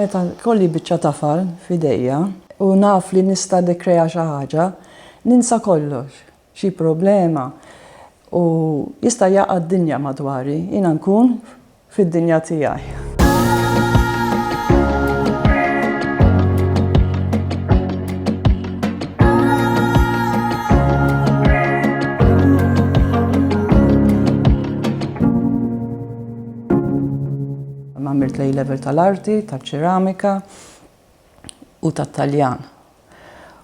Meta jkolli biċċa tafal f'idejja u naf li nista' nikkrea xi ħaġa, ninsa kollox. xi problema u jista' jaqa' d-dinja madwari, jiena nkun fid-dinja tiegħi. Għamilt l-A-Level tal-Arti, taċ-Ċeramika. u tat-Taljan,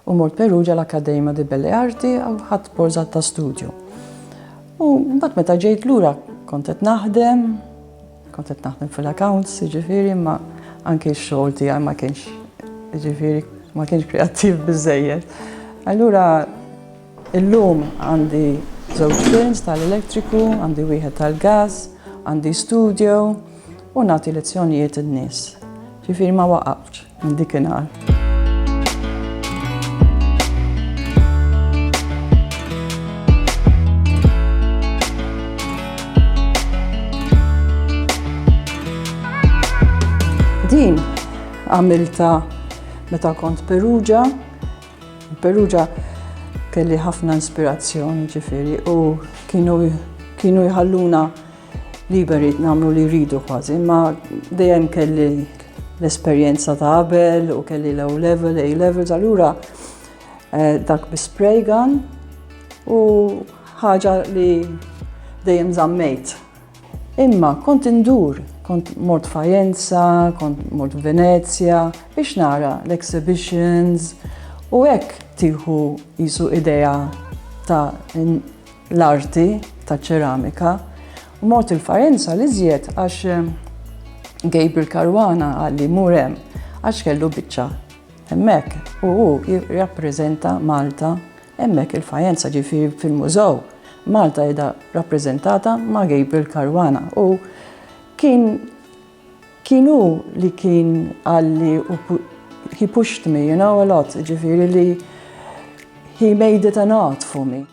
u mort Perugia l-Accademia di Belle Arti u ħadt borża ta' studju. U mbagħad meta ġejt lura kont qed naħdem, kont qed naħdem fil-accounts, jiġifieri ma anke x-xogħol tiegħi ma kienx jiġifieri ma kienx kreattiv biżejjed. Allura Illum għandi żewġ firns tal-elettriku, għandi wieħed tal-gas, għandi studio u nagħti lezzjonijiet in-nies. Ġifieri ma waqaftx minn dikinhar. Din għamilta meta kont Perugia Perugia kelli ħafna inspirazzjoni ġifiri u kienu kienu jħalluna liberi namlu li rridu kważi, imma dejjem kelli l-esperjenza ta' qabel u kelli l-O level, A levels, allura eh, dak bi spray gun u ħaġa li dejjem zammejt. Imma kont indur, kont mort Fajenza, kont mort Venezja biex nara l-exhibitions u hekk tieħu qisu idea ta' l-arti taċ-ċeramika. U mort il-Fajenza l-iżjed għax Gabriel Caruana qalli mur hemm għax kellu biċċa hemmhekk u hu jirrappreżenta Malta Hemmhekk il-Fajenza ġifieri fil-Mużew, Malta qiegħda rappreżentata ma' Gabriel Caruana u kien kien hu li kien qalli he pushed me, you know, a lot, ġifieri li he made it an art for me.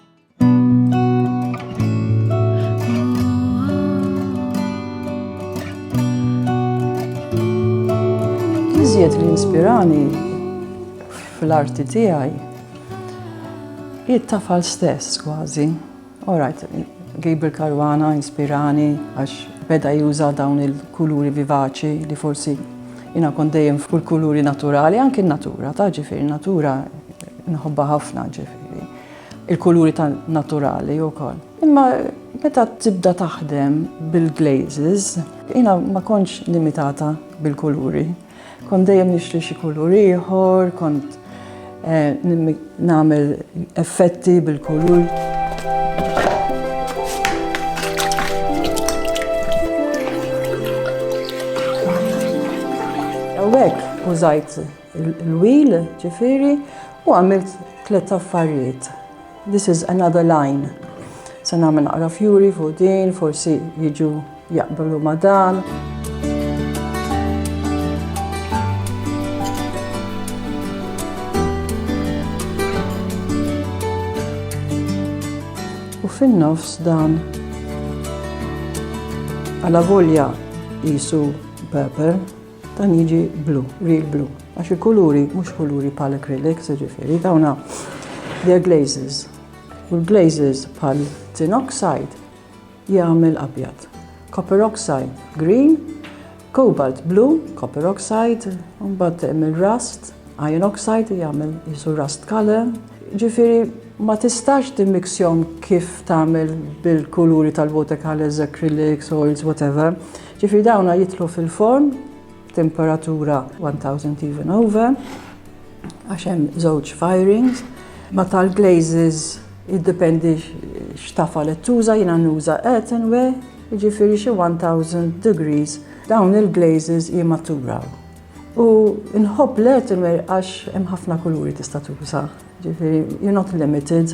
Iżjed li inspirani fl-arti tiegħi Hi t-tafal stess kważi. Alright, Gabriel Caruana inspirani għax beda juża dawn il-kuluri vivaċi li forsi jina kont dejjem fuq il-kuluri naturali, anki n-natura, ta' ġifieri natura nħobba ħafna ġifieri. Il-kuluri ta' naturali wkoll. Imma meta tibda taħdem bil-glazes, jina ma kontx limitata bil-kuluri. Kont dejjem nixtri xi kulur ieħor, kont eh, nagħmel effetti bil-kulur. Għawek, użajt il-wil, ġifiri, u għamilt tlet affarijiet. This is another line. Se nagħmel naqra fjuri fuq din, forsi jiġu jaqblu ma' dan. U fin-nofs dan għala volja jisu pepper Dan jiġi blu, real blu, għax il-kuluri mhux kuluri bħal acrylics, ġifieri dawna they're glazes. U l-glazes bħal tin oxide jagħmel abjad. Copper oxide green, cobalt blue, copper oxide, mbagħad hemm il-rust, iron oxide jagħmel jisu rust color. Ġifieri ma tistax timmiksjom kif tagħmel bil-kuluri tal-watercolors, acrylics, oils, whatever. Ġifieri dawna jidħlu fil-forn b'temperatura 1000 even over għax hemm żewġ firings. Ma tal-glazes jiddependi x'tafa li tuża jiena nuża earthenware, jiġifieri xi 1000 degrees dawn il-glazes jimmaturaw. U nħobb l-earthenware għax hemm ħafna kuluri tista' tuża, ġifieri you're not limited.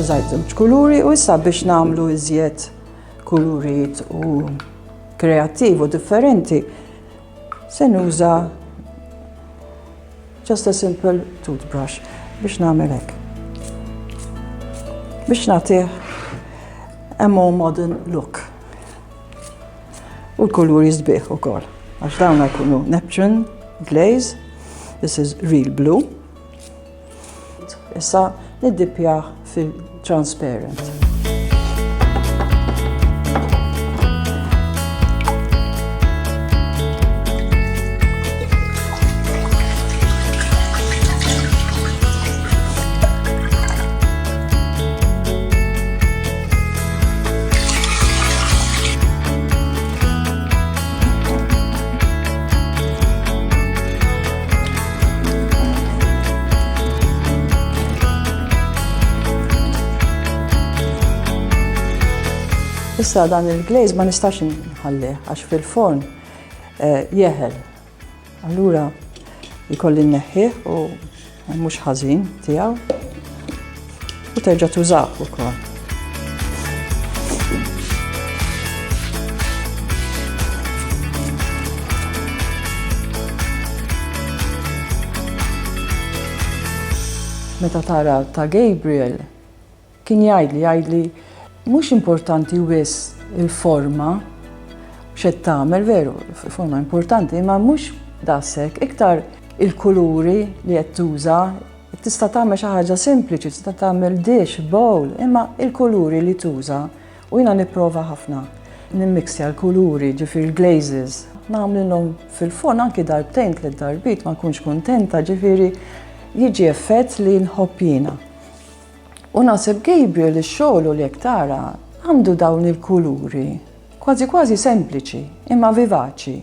Użajt żewġ kuluri u issa biex nagħmlu iżjed kulurijiet u kreattiv u differenti se nuża just a simple toothbrush biex nagħmel hekk. Biex nagħtih a more modern look. U l-kuluri sbieħ ukoll. Għax dawn jkunu Neptune glaze, this is real blue. Issa niddippjaħ fil-transparent. Issa dan il-glaze ma nistax nħalli għax fil-forn eh, jeħel Allura jkolli nneħħih u mhux ħażin tiegħu u terġa' tużah ukoll. Meta tara ta' Gabriel Kien jgħidli, jgħidli, mhux importanti wisq il-forma, x'qed tagħmel, veru, forma importanti, imma mhux daqshekk, iktar il-kuluri li qed tuża, tista' tagħmel xi ħaġa sempliċi, tista' tagħmel dish, bowl, imma il-kuluri li tuża u jiena nipprova ħafna nimmixja l-kuluri, ġifieri l-glazes, nagħmlilhom fil-fond anki darbtejn tliet darbiet ma nkunx kuntenta, ġifieri jiġi effett li nħobb jiena. U naħseb Gabriel ix-xogħlu li jekk tara għandu dawn il-kuluri kważi kważi sempliċi imma vivaċi.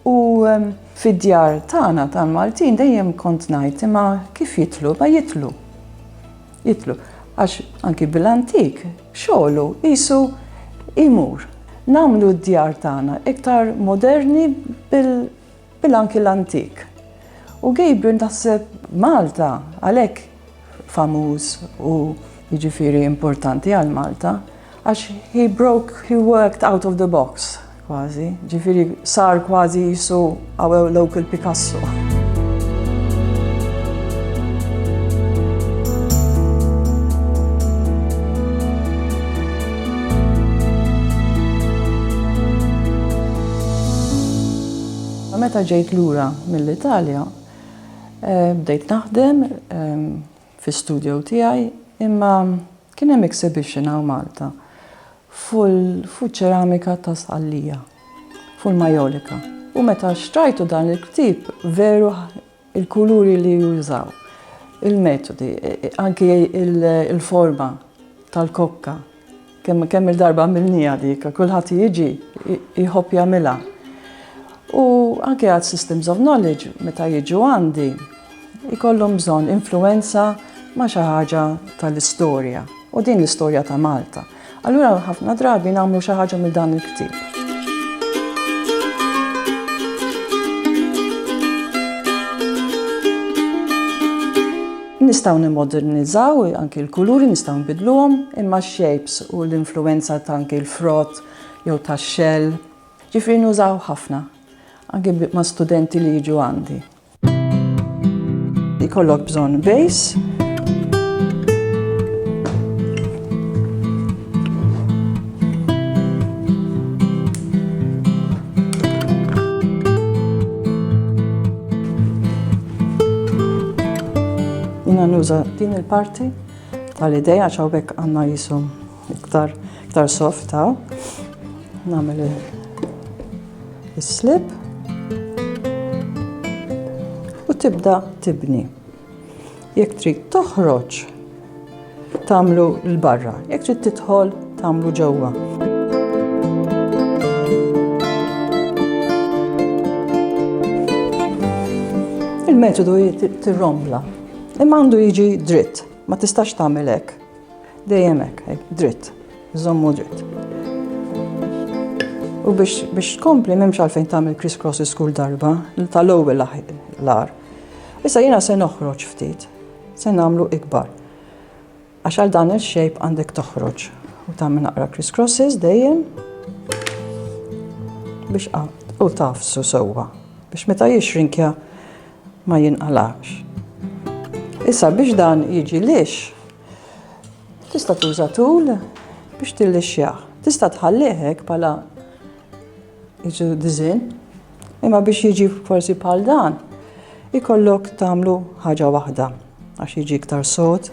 U ehm, fid-djar tagħna tal-Maltin dejjem kont ngħid imma kif jitlu, ma jitlu. Jitlu. Għax anki bil-antik xogħlu qisu imur. Namlu d-djar tagħna iktar moderni bil Bil anki l-antik. U Gabriel taħseb Malta għalhekk famuż u jiġifieri importanti għal Malta għax he broke, he worked out of the box kważi, ġifieri sar kważi jisu our local Picasso. Meta ġejt lura mill-Italja, bdejt naħdem fi studio tiegħi imma kien hemm exhibition hawn Malta fuq ċeramika ta' Sqallija, fuq il-Majolica. U meta xtrajtu dan il-ktieb veru Il-kuluri li jużaw, il-metodi, anki il-forma tal-kokka. Kemm kemm il-darba għamilniha dik, kulħadd jiġi jħobb jagħmilha. U anke għad systems of knowledge meta jiġu għandi jkollhom bżonn influwenza ma' xi ħaġa tal-istorja u din l-istorja ta' Malta. Allura ħafna drabi nagħmlu xi ħaġa minn dan il-ktieb. Nistaw nimodernizzaw anki l-kuluri, nistaw nbidluhom, imma shapes u l-influenza ta' anki l-frott jew ta' xell. Ġifri nużaw ħafna, anki ma' studenti li jiġu għandi. Ikollok bżonn base. Jina nuża din il-parti tal-ideja ċawbek għanna jisum Iktar, iktar soft ta' nagħmel is-slip u tibda tibni. Jekk trid toħroġ tagħmlu l-barra, jekk trid tidħol tagħmlu ġewwa. Il-metodu tirrombla, imma għandu jiġi dritt, ma tistax tagħmel hekk. Dejjem hekk, dritt, żommu dritt. U biex biex tkompli m'hemmx għalfejn tagħmel criss crosses kull darba, tal-ewwel l-ar. Issa jiena se noħroġ ftit, se nagħmlu ikbar. Għax għal dan il-shape għandek toħroġ u tagħmel naqra criss crosses dejjem biex u tafsu sewwa biex meta jixrinkja ma jinqalax. Issa biex dan jiġi lix, Tista' tuża tul biex tillixxjah. Tista' tħallih hekk bħala jiġu diżin, imma biex jiġi forsi bħal dan, ikollok tagħmlu ħaġa waħda għax jiġi iktar sod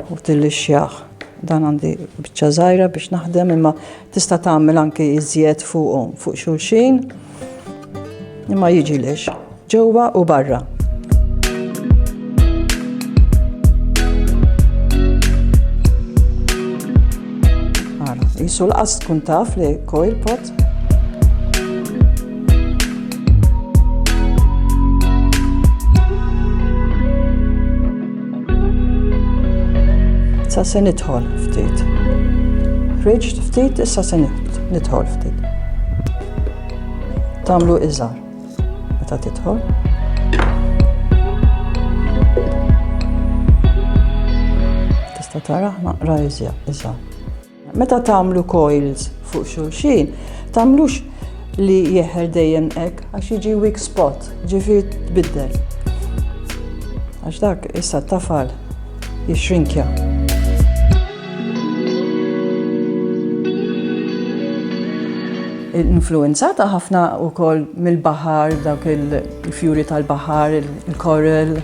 u tillixxjah. Dan għandi biċċa żgħira biex naħdem imma tista' tagħmel anke iżjed fuqhom fuq xulxin. Imma jiġilex, ġewwa u barra. Jisu l-qas tkun taf li coil pot. Sa se nidħol ftit. Ħriġt ftit, issa se nidħol ftit. Tamlu iżgħar meta tidħol. Tista' tara naqra iżgħar. Meta tagħmlu coils fuq xulxin, tagħmlux li jeħer dejjem hekk għax jiġi weak spot, ġifi tbiddel. Għax dak issa tafal jixrinkja. influwenzata ħafna wkoll mill-baħar, dawk il-fjuri tal-baħar, il-coral,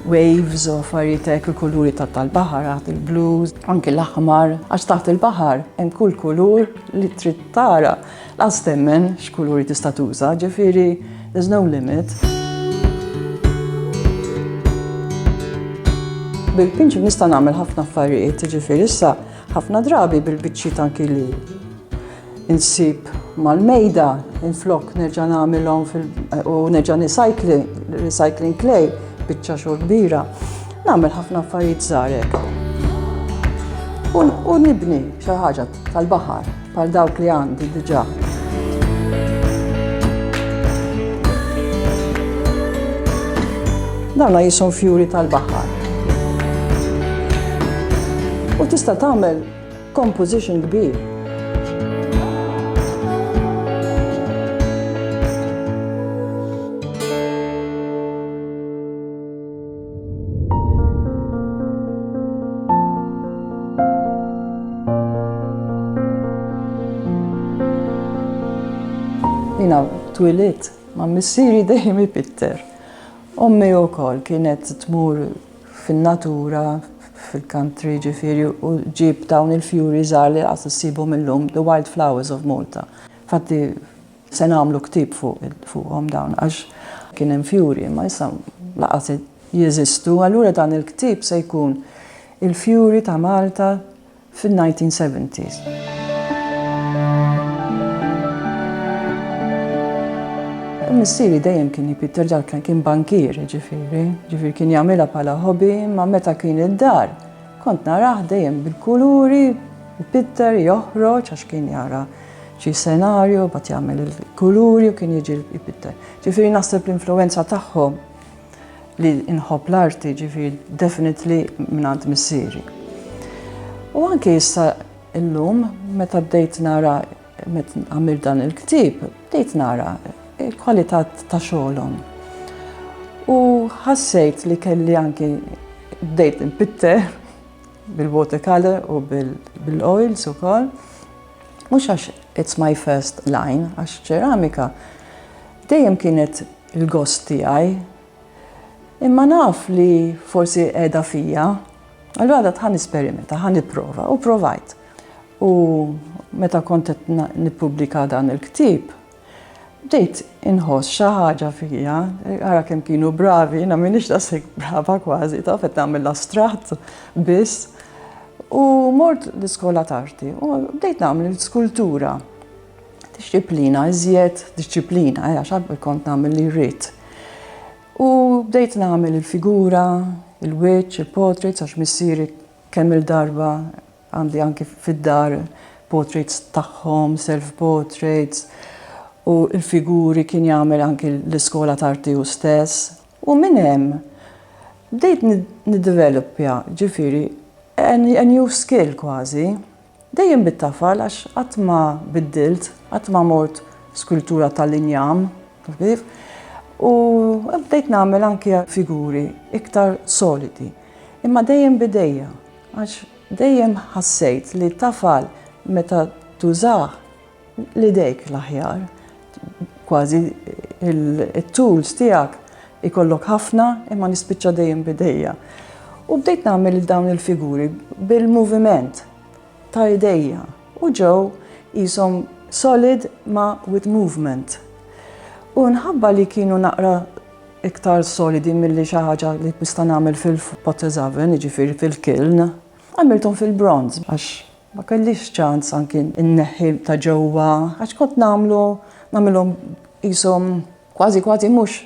waves, u affarijiet hekk il-kuluri tal-baħar, għad il-blues, anki l-aħmar, għax taħt il-baħar hemm kull kulur li trid tara. Lanqas temmen x'kuluri tista' tuża, ġifieri there's no limit. Bil-pinċ nista' nagħmel ħafna affarijiet, ġifieri issa ħafna drabi bil-biċċiet anki li insib mal-mejda, inflok nerġa' nagħmilhom u nerġa' nisajkli, recycling clay, biċċa xogħol kbira. Nagħmel ħafna affarijiet żgħarek. U nibni xi ħaġa tal-baħar bħal dawk li għandi diġà. Dawna jisom fjuri tal-baħar. U tista' tagħmel composition kbir. Jina twilit ma' missiri dejjem ipitter. Ommi u kol kienet tmur fil-natura, fil-country ġifiri, u ġib dawn il-fjuri zar li għas s-sibu mill-lum, the wild flowers of Malta. Fatti, Se nagħmlu ktieb fuqhom dawn għax kien hemm fjuri imma issa laqas jeżistu. Allura dan il-ktieb se jkun il-fjuri ta' Malta fin-1970s. Missieri dejjem kien jipit terġa' kien kien bankier ġifieri, ġifieri kien jagħmilha bħala hobby imma meta kien id-dar kont narah dejjem bil-kuluri, jpitter, joħroġ għax kien jara xi senarju, mbagħad jagħmel il-kuluri u kien jiġi jpitter. Ġifieri naħseb l-influenza tagħhom li nħobb l-arti ġifieri definitely mingħand missieri. U anke issa illum meta bdejt nara meta għamil dan il-ktib, bdejt nara il-kwalità ta' xogħolhom. U ħassejt li kelli anke bdejt npitter bil-watercolor u bil-oils ukoll. Mhux għax it's my first line, għax ċeramika dejjem kienet il-gost tiegħi. Imma naf li forsi qiegħda fija, allura għadha tħan esperimenta, ħan nipprova u provajt. U meta kont qed nippubblika dan il-ktieb, Bdejt inħoss xi ħaġa fija, ara kemm kienu bravi, jiena m'iniex daqshekk brava kważi, taf qed nagħmel l-astratt biss. U mort l-iskola t'arti u bdejt nagħmel skultura. Dixxiplina, iżjed dixxiplina, eh, għax kont nagħmel li rrid. U bdejt nagħmel il-figura, il-wiċċ, il-portraits għax missieri kemm il-darba Għandi anki fid-dar portraits tagħhom, self portraits, u l-figuri kien jagħmel anki l-iskola t'arti hu stess. U minn hemm bdejt niddevelopja, ġifieri, a new skill kważi. Dejjem bit-tafal għax qatt ma biddilt, qatt ma mort skultura tal-injam, taf kif? U bdejt nagħmel anki figuri iktar solidi, imma dejjem b'idejja. Għax dejjem ħassejt li t-tafal meta tużah l-idejk l-aħjar. Kważi t-tools tiegħek ikollok ħafna imma nispiċċa dejjem b'idejja. U bdejt nagħmel dawn il-figuri bil-moviment ta' idejja u ġew qishom solid ma' with movement. U mħabba li kienu naqra iktar solidi milli xi ħaġa li nista' nagħmel fil-potes oven, jiġifieri fil-kiln, għamilthom fil-bronze għax ma kellix ċans anki nneħħi ta' ġewwa għax kont nagħmlu nagħmilhom qishom kważi kważi mhux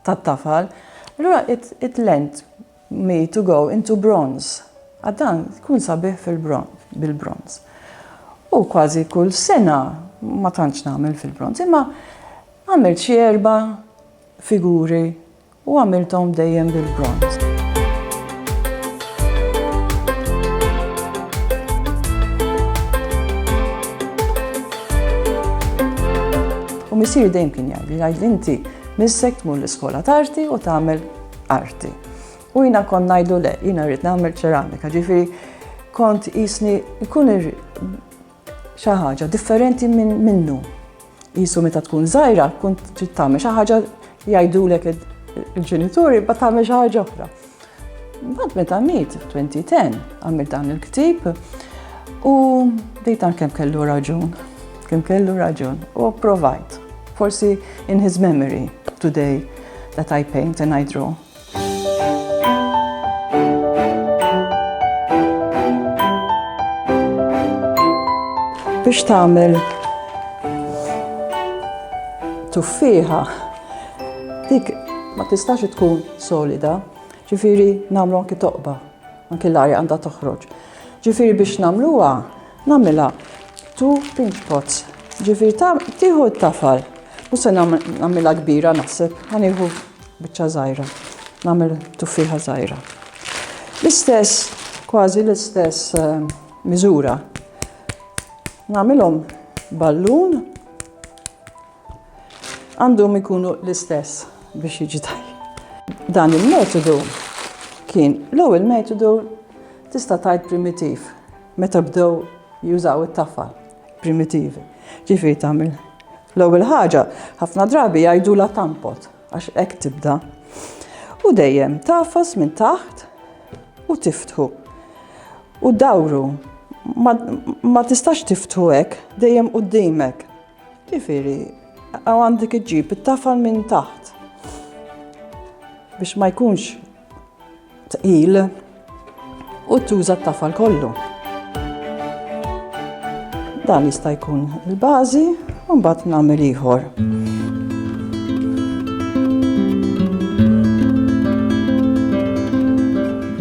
tat-tafal. Allura it-lent me to go into bronze, għal dan tkun sabiħ fil-bronz, bil-bronz. U kważi kull sena ma tantx nagħmel fil-bronz, imma għamilt xi erba' figuri u għamilthom dejjem bil-bronz. U missieri dejjem kien jgħidli, jgħidli inti missek tmur l-iskola tarti u tagħmel arti. U jina kont najdu le, jina rrit namel ċeramika, ġifiri kont jisni jkun xaħġa differenti minn minnu. Jisu meta tkun zaħira, kun trid tagħmel xi ħaġa jgħidulek il-ġenituri ba tagħmel xi ħaġa oħra. Bad meta miet 2010 għamil dan il-ktib u dejtan kemm kellu raġun. Kemm kellu raġun u provajt. Forsi in his memory today that I paint and I draw. Biex tagħmel tuffiħa dik ma tistax tkun solida, ġifiri namlu anki toqba, anki l-arja għandha toħroġ. Ġifiri biex namluha Nagħmilha two pinch pots. Ġifieri ta' tieħu t-tafal. Mhux se nagħmilha kbira naħseb, ħanieħu biċċa żgħira. Nagħmel tuffiħa żgħira. L-istess, kważi l-istess eh, miżura. Nagħmilhom ballun għandhom ikunu l-istess biex jiġi tajjeb. Dan il-metodu kien l-ewwel metodu tista' tajt primitiv meta bdew jużaw it-taffa primitivi. Ġifi tagħmel l-ewwel ħaġa ħafna drabi jgħidu la tampot għax hekk tibda. U dejjem tafas minn taħt u tiftħu. U dawru ma tistax tiftħu hekk dejjem qudiemek. Ġifieri, għaw għandek iġġib it-tafal minn taħt biex ma jkunx tqil u tuża t-tafal kollu. Dan jista' jkun il-bażi u mbagħad nagħmel ieħor.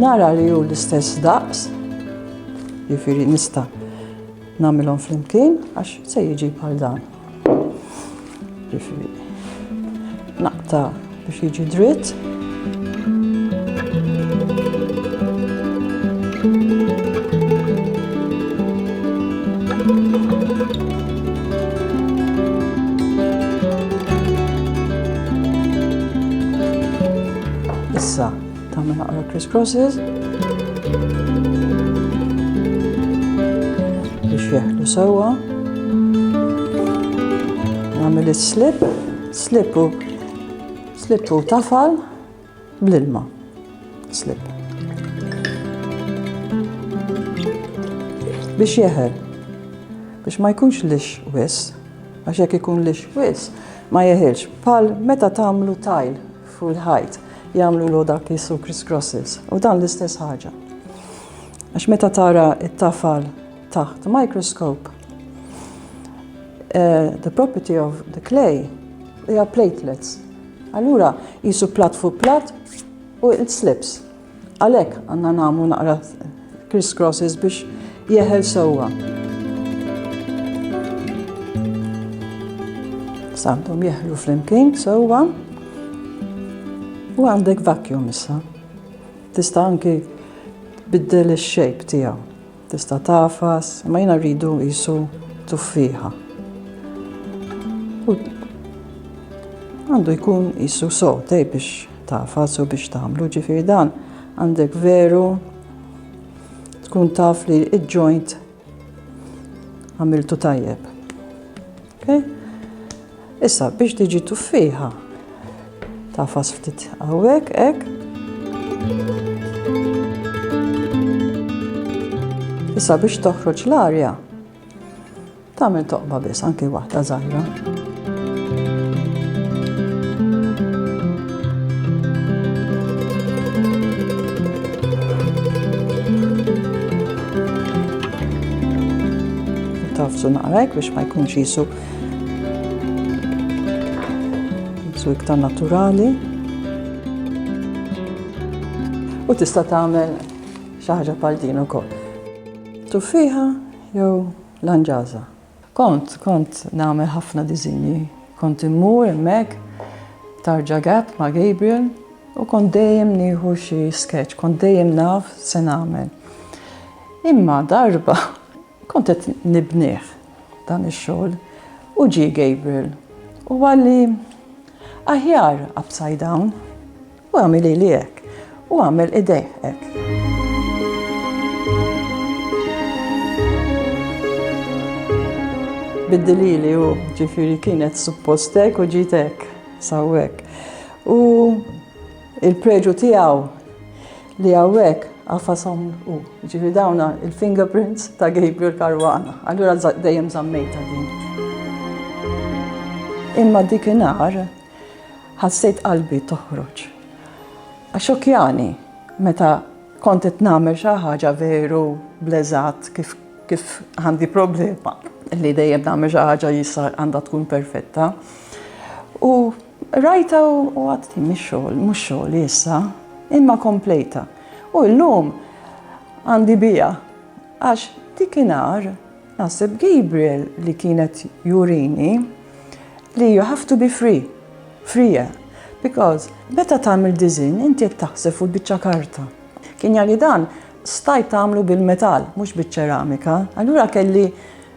Nara li hu l-istess daqs, jifieri nista' Nagħmilhom flimkien għax se jiġi bħal dan. Ġifieri naqta' biex jiġi dritt. Tagħmel naqra criss crosses. Biex jeħlu sewwa. Nagħmel is-slip, slip u slip u tafal bl-ilma. Slip. Biex jeħel. Biex ma jkunx lix wis. Għax jekk ikun lix wis, ma jeħilx. Pal meta tagħmlu tajl Fuq il-ħajt jagħmlulu dak li jissu Chris Crosses u dan l-istess ħaġa. Għax meta tara it-tafal taħt microscope, uh, the property of the clay hija platelets. Allura jisu plat fuq plat u it slips. Għalhekk għandna nagħmlu naqra criss crosses biex jeħel sewwa. Sandhom jeħlu flimkien sewwa u għandek vacuum issa. Tista' anki biddel ix-shape tiegħu. Tista' tagħfas, imma jiena rridu qisu tuffieħa. Għandu jkun qisu sotej biex tagħfas u biex tagħmlu ġifieri dan għandek veru tkun taf li il-ġoint għamiltu tajjeb. Okay? Issa biex tiġi tuffiħa tafas ftit hawnhekk hekk. Issa biex toħroġ l-arja tagħmel toqba biss anke waħda żgħira. Tafsu naqrajk biex ma jkunx jisu Su iktar naturali. U tista' tagħmel xi ħaġa bħal din ukoll. Tuffiħa jew lanġaża. Kont, kont nagħmel ħafna diżinji. Kont immur hemmhekk tarġa gap ma' Gabriel u kont dejjem nieħu xi sketch, kont dejjem naf se nagħmel. Imma darba Kont qed nibnih dan ix-xogħol u ġie Gabriel u qalli, Aħjar upside down. U għamel lili hekk, u għamel idejh hekk. Biddel lili hu, ġifieri kienet suppost hekk u ġiet hekk, sawwek. U. Il-preġu tiegħu li hawnhekk għafasom u ġifi dawna il-fingerprints ta' Gabriel Caruana. Allura dejjem zammejta din. Imma dik inar ħassejt qalbi toħroġ. Għaxokjani, meta kont qed nagħmel xi ħaġa veru bleżat kif kif għandi problema li dejjem nagħmel xi ħaġa jissa għandha tkun perfetta. U Qrajtha u għadt din mhix xogħol, mhux xogħli issa, imma komplejtha. U llum għandi biha għax dikinhar naħseb Gabriel li kienet jurini li you have to be free, free, because meta tagħmel diżin inti qed taħseb fuq biċċa karta. Kien jali dan stajt tagħmlu bil-metall, mhux biċ-ċeramika, allura kelli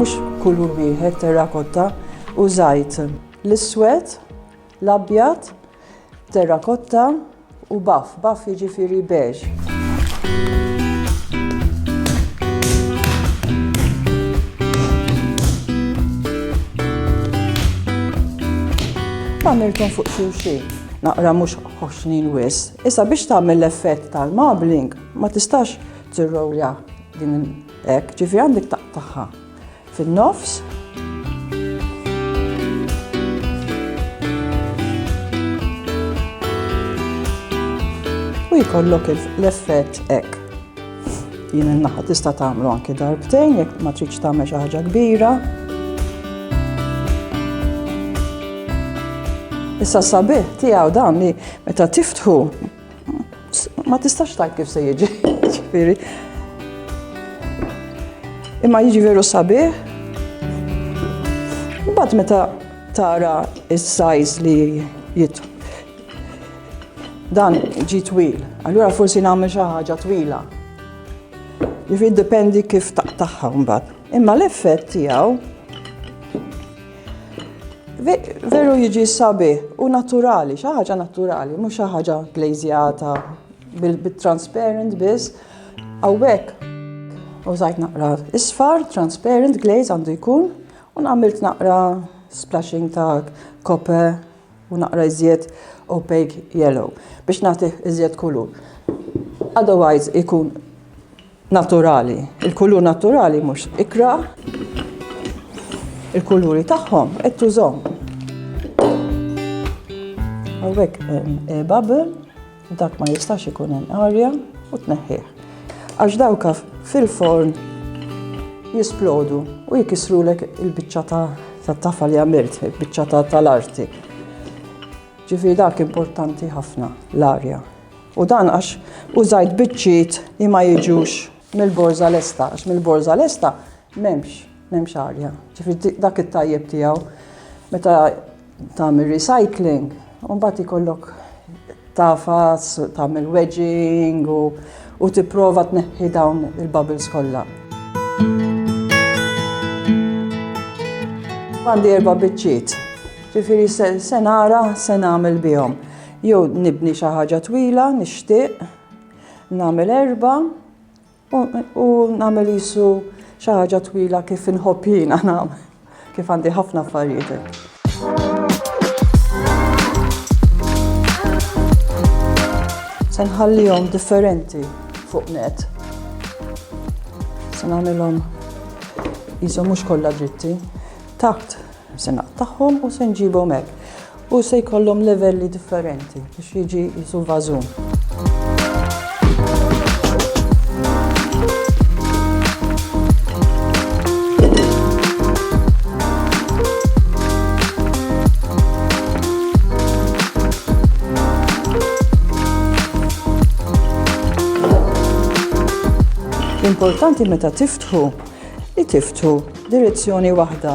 Mhux kulur wieħed terrakotta użajt l-iswed, l-abjad, terrakotta u baff, baff jiġifieri beġ. Għamiltom fuq xulxin, naqra mhux ħoxnin wis. Issa biex tagħmel l-effett tal-marbling ma tistax tirrowja din hekk, ġifi għandek taqtaħħa fin-nofs. U jkollok l-effett hekk. Jien in-naħa tista' tagħmlu anke darbtejn jekk ma tridx tagħmel xi ħaġa kbira. Issa sabiħ tiegħu dan li meta tiftħu ma tistax tajt kif se jiġi. Ġifieri. Imma jiġi veru sabiħ. Mbagħad meta tara s-sajz li jitħu Dan ġi twil, allura forsi nagħmel xi ħaġa twila. Jifi dipendi kif taqtaħħa mbagħad. Imma l-effett tiegħu veru jiġi sabi u naturali, xi ħaġa naturali, mhux xi ħaġa glazjata bil-transparent biss. Awek, u zajt naqra isfar, transparent glaze għandu jkun, u nagħmilt naqra splashing ta' kope u naqra iżjed opaque yellow biex nagħtih iżjed kulur. Otherwise ikun naturali. Il-kulur naturali mhux ikra il-kuluri tagħhom qed tużhom. Hawnhekk eh, bubble Dak ma jistax ikun hemm arja u tneħħih. Għax dawka fil-forn jisplodu u jikisrulek il-biċċa ta' tafa li għamilt, il-biċċa ta' tal-arti. Ġifi dak importanti ħafna l-arja. U dan għax użajt biċċiet li ma jiġux mill-borza lesta, għax mill-borza lesta memx M'hemmx arja. Ġifieri dak it-tajjeb tiegħu meta tagħmel recycling, u mbagħad ikollok tafas, tagħmel wedging u tipprova tneħħi dawn il-bubbles kollha. Għandi erba' biċċiet. Ġifieri se nara se nagħmel bihom. Jew nibni xi ħaġa twila, nixtieq, nagħmel erba' U nagħmel qisu xi ħaġa twila kif inħobb jiena nagħmel, kif għandi ħafna affarijiet hekk. Se nħallihom differenti fuq net. Se nagħmilhom qishom mhux kollha dritti. Taqt Se naqtagħhom u se nġibhom hekk. U se jkollhom livelli differenti biex jiġi jisu vażun. L-importanti meta tiftħu li tiftu direzzjoni waħda.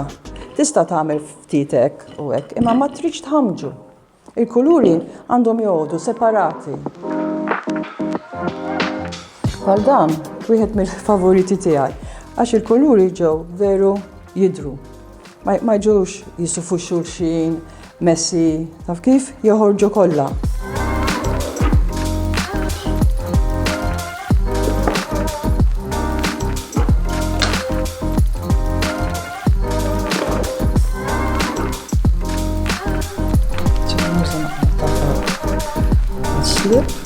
Tista' tagħmel ftit hekk u hekk, imma ma tridx tħammġu. Il-kuluri għandhom joqogħdu separati. Għal dan, wieħed mill-favoriti tiegħi, għax il-kuluri ġew veru jidru. Ma jġux jisufu xulxin, messi, taf kif, joħorġu kollha. Thank you.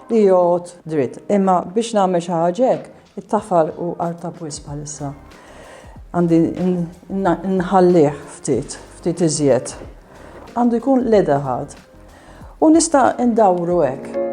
Li jgħodd dritt. Imma biex nagħmel xi ħaġa hekk, it-tafal hu artab wisq bħalissa. Għandi nħallih ftit, ftit iżjed. Għandu jkun l-eda ħadd. U nista' ndawru hekk.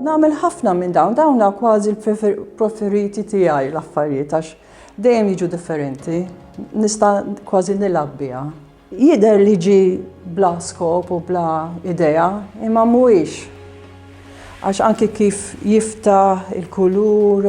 Nagħmel ħafna minn dawn, dawn kważi l-preferiti tiegħi l-affarijiet għax dejjem jiġu differenti, nista' kważi nilgħab biha. Jidher li ġi bla skop u bla idea, imma mhuwiex. Għax anki kif jiftaħ il-kulur,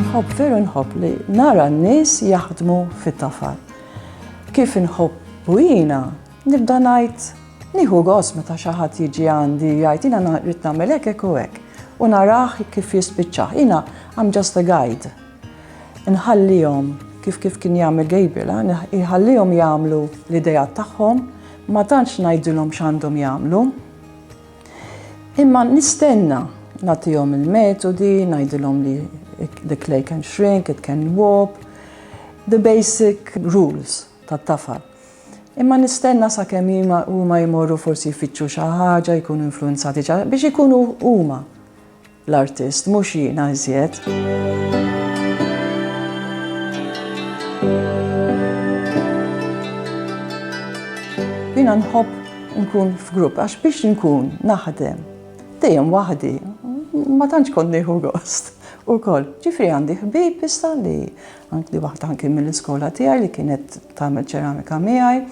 Nħobb veru nħobb li nara n-nies jaħdmu fit-tafal. Kif inħobb bujina, nibda ngħid nieħu gos meta xi ħadd jiġi għandi jgħid jiena rrid nagħmel hekk hekk u hekk u narah kif jispiċċa. Jiena I'm just a guide. Inħallihom, kif kif kien jagħmel Gabriel, inħallihom jagħmlu l-ideat tagħhom, ma tantx ngħidilhom x'għandhom jagħmlu. Imma nistenna nagħtihom il-metodi, ngħidilhom li the clay can shrink, it can warp, the basic rules tat-tafal. Imma nistenna sa kemm huma jmorru forsi jfittxu xi ħaġa, jkunu influenzati biex ikunu huma. L-artist, mhux jiena iżjed. Jiena nħobb nkun f'grupp għax biex nkun naħdem dejjem waħdi ma tantx kont nieħu gost ukoll. Ġifri għandi ħbieb issa li għandi waħda anki mill-iskola tiegħi li kienet tagħmel ċeramika miegħi.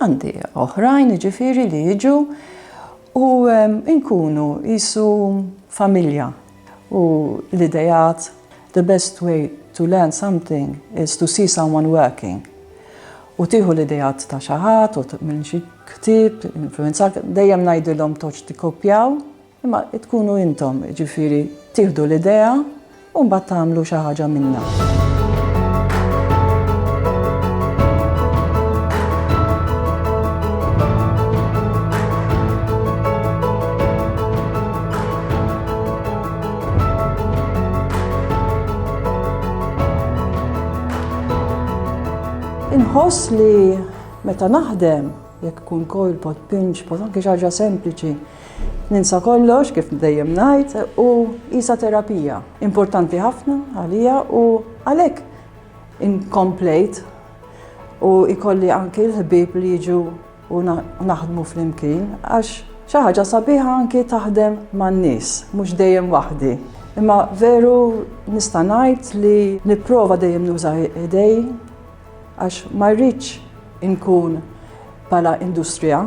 Għandi oħrajn jiġifieri li jiġu u nkunu qisu familja u l-ideat the best way to learn something is to see someone working u tieħu l-ideat ta' xi ħadd u minn xi ktieb influwenzat dejjem ngħidilhom toġġ tikkopjaw Imma tkunu intom, jiġifieri tieħdu l-idea u mbagħad tagħmlu xi ħaġa minnha. Inħoss li meta naħdem, jekk ikun coil pot, pinch pot, anke xi ħaġa sempliċi, Ninsa kollox kif dejjem ngħid u qisha terapija importanti ħafna għalija u għalhekk inkomplejt u ikolli anki l-ħbieb li jiġu u naħdmu flimkien għax xi ħaġa sabiħa anki taħdem man-nies, mhux dejjem waħdi. Imma veru nista' ngħid li nipprova dejjem nuża idej għax ma rridx inkun bħala industrija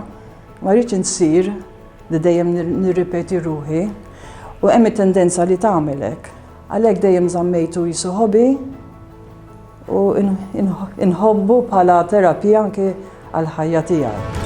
Ma rridx insir li dejjem nirripeti ruħi u hemm it-tendenza li tagħmel hekk. Għalhekk dejjem żammejtu jisu ħobi u inħobbu bħala terapija anke għal ħajja tiegħi.